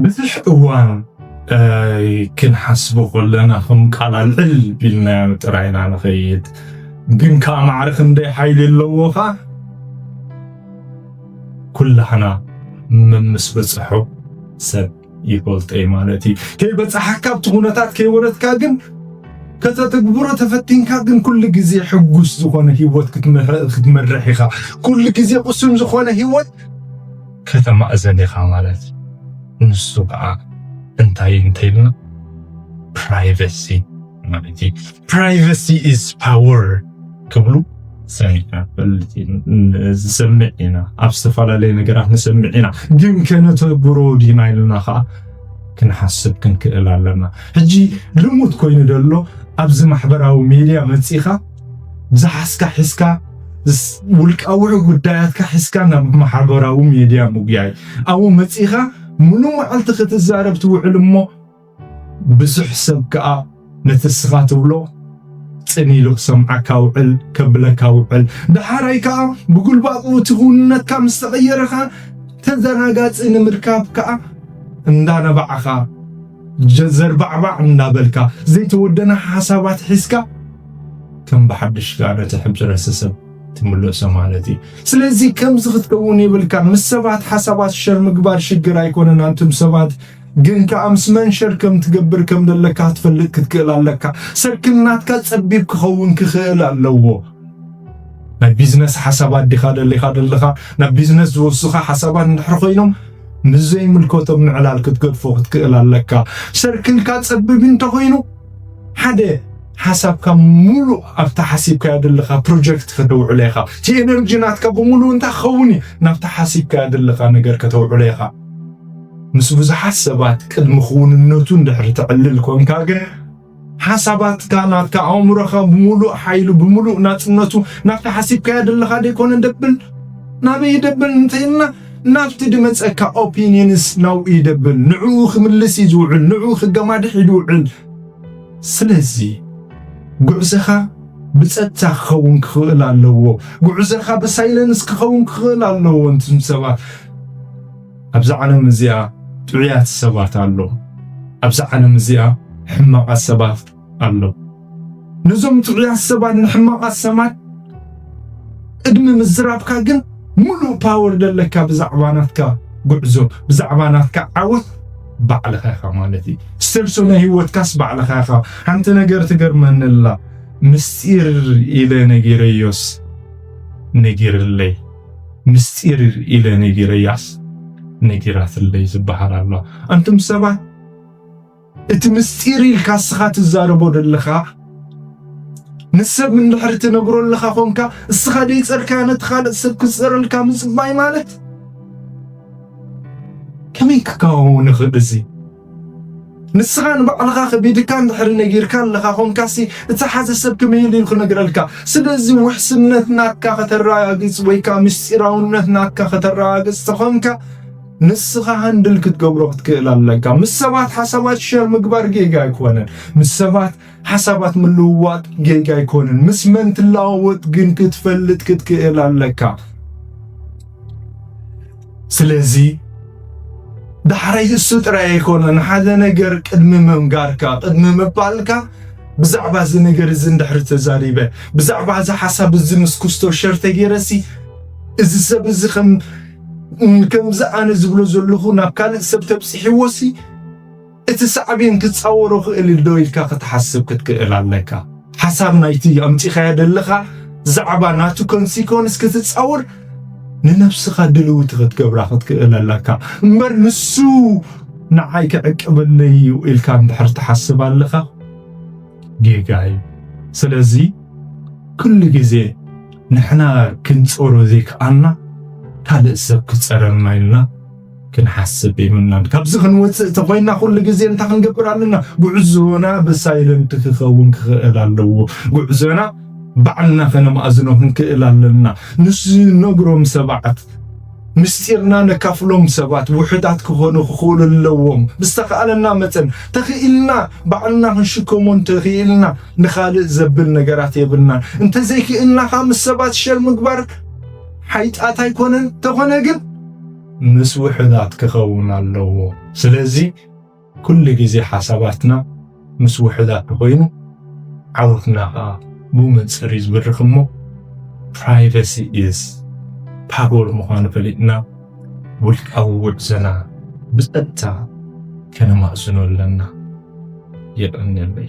ብዙሕ እዋን ክንሓስቦ ከለና ከም ቃል ኣልዕል ቢልናዮ ጥራይ ኢና ንኸይድ። ግን ከዓ ማዕረ ክንደይ ሓይሊ ኣለዎ ኸዓ ኩላህና መምስ በፅሖ ሰብ ይፈልጦ እዩ ማለት እዩ። ከይበጻሓካ ኣብቲ ኩነታት ከይወረድካ ግን ከተትግብሮ ተፈቲንካ ግን ኩሉ ግዜ ሕጉስ ዝኾነ ህይወት ክትመርሕ ኢኻ። ኩሉ ግዜ ቁሱም ዝኾነ ህይወት ከተማእዘን ኢኻ ማለት ንሱ ከዓ እንታይ እንተይልና ፕራይቬሲ ማለት እዩ ፕራይቨሲ ኢዝ ፓወር ክብሉ ሰሚዕና ዝሰምዕ ኢና ኣብ ዝተፈላለዩ ነገራት ንሰምዕ ኢና ግን ከነተግብሮ ዲና ኢልና ከዓ ክንሓስብ ክንክእል ኣለና ሕጂ ልሙት ኮይኑ ደሎ ኣብዚ ማሕበራዊ ሜድያ መፂኻ ብዝሓስካ ሒስካ ውልቃዊ ጉዳያትካ ሒስካ ናብ ማሕበራዊ ሜድያ ምጉያይ ኣብኡ መፂኻ ሙሉ መዓልቲ ክትዛረብ ትውዕል እሞ ብዙሕ ሰብ ከኣ ነቲ እስኻ ትብሎ ጽን ኢሉ ክሰምዓካ ውዕል ከብለካ ውዕል ደሓራይ ከኣ ብጉልባቡ እቲ ክውንነትካ ምስ ተቐየረ ከኣ ተዘናጋጺ ንምርካብ ከኣ እንዳነባዕኻ ዘርባዕባዕ እንዳበልካ ዘይተወደነ ሓሳባት ሒዝካ ከም ብሓድሽ ከኣ ነቲ ሕብረተሰብ ትምልሶ ማለት እዩ ስለዚ ከምዚ ክትከውን የብልካ ምስ ሰባት ሓሳባት ሸር ምግባር ሽግር ኣይኮነን ኣንቱም ሰባት ግን ከኣ ምስ መን ሸር ከም ትገብር ከም ዘለካ ክትፈልጥ ክትክእል ኣለካ። ሰርክል ናትካ ጸቢብ ክኸውን ክኽእል ኣለዎ። ናይ ቢዝነስ ሓሳባት ዲኻ ደሊኻ ደለኻ? ናብ ቢዝነስ ዝወስኻ ሓሳባት እንድሕር ኮይኖም ምስ ዘይምልከቶም ንዕላል ክትገድፎ ክትክእል ኣለካ። ሰርክልካ ጸቢብ እንተኾይኑ ሓደ ሓሳብካ ሙሉእ ኣብታ ሓሲብካያ ደለኻ ፕሮጀክት ከተውዕሎ ኢኻ። እቲ ኤነርጂ ናትካ ብምሉእ እንታይ ክኸውን እዩ? ናብታ ሓሲብካያ ደለኻ ነገር ከተውዕሎ ኢኻ። ምስ ብዙሓት ሰባት ቅድሚ ክውንነቱ እንድሕሪ ተዕልል ኮንካ ግን ሓሳባትካ ናትካ ኣእምሮኻ ብምሉእ ሓይሉ ብምሉእ ናጽነቱ ናብቲ ሓሲብካዮ ዘለኻ ደይኮነ ደብል ናበይ ይደብል እንተይልና ናብቲ ድመጸካ ኦፒኒንስ ናብኡ ይደብል ንዕኡ ክምልስ እዩ ዝውዕል ንዕኡ ክገማድሕ እዩ ዝውዕል ስለዚ ጉዕዘኻ ብጸጥታ ክኸውን ክኽእል ኣለዎ ጉዕዘኻ ብሳይለንስ ክኸውን ክኽእል ኣለዎ እንትም ሰባት ኣብዛ ዓለም እዚኣ ጥዑያት ሰባት ኣለዉ፣ ኣብዛ ዓለም እዚኣ ሕማቓት ሰባት ኣለዉ። ነዞም ጥዑያት ሰባት ንሕማቓት ሰባት ቅድሚ ምዝራብካ ግን ምሉእ ፓወር ዘለካ ብዛዕባ ናትካ ጉዕዞ ብዛዕባ ናትካ ዓወት ባዕልኻ ኢኻ ማለት እዩ። ስተርሶ ናይ ህይወትካስ ባዕልኻ ኢኻ። ሓንቲ ነገር ትገርመኒ ኣላ ምስጢር ኢለ ነጊረዮስ ነጊርለይ ምስጢር ኢለ ነጊረያስ ነጊራትለይ ዝበሃል ኣሎ። ኣንቱም ሰባት እቲ ምስጢር ኢልካ እስኻ ትዛረቦ ዘለኻ ንሰብ እንድሕሪ ትነግሮ ኣለኻ ኮንካ እስኻ ደይጸርካ ነቲ ካልእ ሰብ ክጸረልካ ምጽባይ ማለት ከመይ ክከውን ይኽእል እዚ ንስኻ ንባዕልኻ ከቢድካ እንድሕሪ ነጊርካ ኣለኻ ኾንካሲ እቲ ሓዘ ሰብ ከመይ ኢሉ ክነግረልካ? ስለዚ ውሕስነት ናትካ ከተረጋግጽ ወይ ከዓ ምስጢራውነት ናትካ ከተረጋግጽ ተኾንካ ንስኻ ሃንድል ክትገብሮ ክትክእል ኣለካ። ምስ ሰባት ሓሳባት ሸር ምግባር ጌጋ ኣይኮነን። ምስ ሰባት ሓሳባት ምልውዋጥ ጌጋ ኣይኮነን። ምስ መን ትለዋወጥ ግን ክትፈልጥ ክትክእል ኣለካ። ስለዚ ዳሕራይ እሱ ጥራይ ኣይኮነን ሓደ ነገር ቅድሚ ምንጋርካ ቅድሚ ምባልካ ብዛዕባ እዚ ነገር እዚ እንድሕሪ ተዛሪበ ብዛዕባ እዚ ሓሳብ እዚ ምስ ኩስቶ ሸር ተገይረሲ እዚ ሰብ እዚ ከም ከምዚ ኣነ ዝብሎ ዘለኹ ናብ ካልእ ሰብ ተብፂሕዎሲ እቲ ሳዕቤን ክጻወሮ ክእል ዶ ኢልካ ክትሓስብ ክትክእል ኣለካ። ሓሳብ ናይቲ ኣምጺኻዮ ደለኻ ዛዕባ ናቱ ኮንሲኮንስ ክትጻወር ንነብስኻ ድልውቲ ክትገብራ ክትክእል ኣለካ። እምበር ንሱ ንዓይ ክዕቅበለይ እዩ ኢልካ እንድሕር ትሓስብ ኣለኻ ጌጋ እዩ። ስለዚ ኩሉ ግዜ ንሕና ክንጸሮ ዘይከኣልና ካልእ ሰብ ክጸረልና ኢልና ክንሓስብ የብልናን ካብዚ ክንወፅእ ተኮይና ኩሉ ግዜ እንታይ ክንገብር ኣለና ጉዕዞና ብሳይለንት ክኸውን ክኽእል ኣለዎ ጉዕዞና ባዕልና ከነማእዝኖ ክንክእል ኣለና ንሱ ነግሮም ሰባት ምስጢርና ነካፍሎም ሰባት ውሕዳት ክኾኑ ክኽእሉ ኣለዎም ብዝተኽኣለና መፀን ተኽኢልና ባዕልና ክንሽከሞ እንተኽኢልና ንኻልእ ዘብል ነገራት የብልናን እንተዘይክእልና ከዓ ምስ ሰባት ሸር ምግባር ሓይጣት ኣይኮነን ተኾነ ግን ምስ ውሑዳት ክኸውን ኣለዎ። ስለዚ ኩሉ ግዜ ሓሳባትና ምስ ውሑዳት ተኾይኑ ዓወትና ከኣ ብመንጽር እዩ ዝበርኽ እሞ ፕራይቨሲ ኢዝ ፓወር ምዃኑ ፈሊጥና ውልቃዊ ጉዕዞና ብጸጥታ ከነማእዝኖ ኣለና። የቐንየለይ።